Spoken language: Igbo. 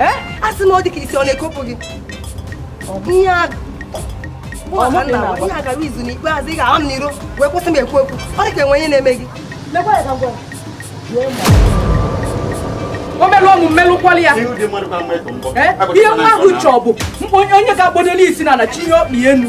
eh? a sị m ọ dị ka isi ọ na-ekopụ gị ihe a gara izu n'ikpeazụ ị ga-ahụ m n'iro wee kwụsị m ekwu okwu ọ dị ka e nwe ihe na-eme gị o melụ ọnwụ mmelụkwala ya ihe nwa ahụ chọọ bụ onye ga-agbadolu isi n'ana chie ọkpa enu